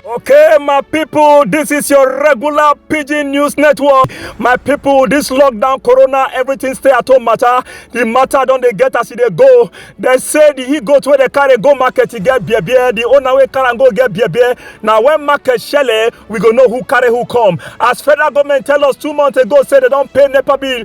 Okay, my people, this is your regular PG News Network. My people, this lockdown, corona, everything stay at home matter. The matter don't they get as e dey go. They say the he go to where they carry go market to get beer beer. The owner wey carry am go get beer beer. Now when market shele, we go know who carry who come. As federal government tell us two months ago, say they don't pay NEPA bill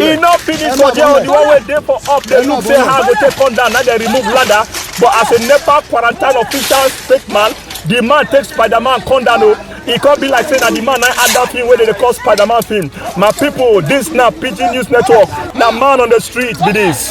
e no finish for there the one wey dey for up dey look say how i go take come down na dey remove ladder but as a nepa quarantine official fake man the man take spiderman come down o e come be like say na the man na add that film wey dey dey call spiderman film my people this na pidgin news network na man on the street be this.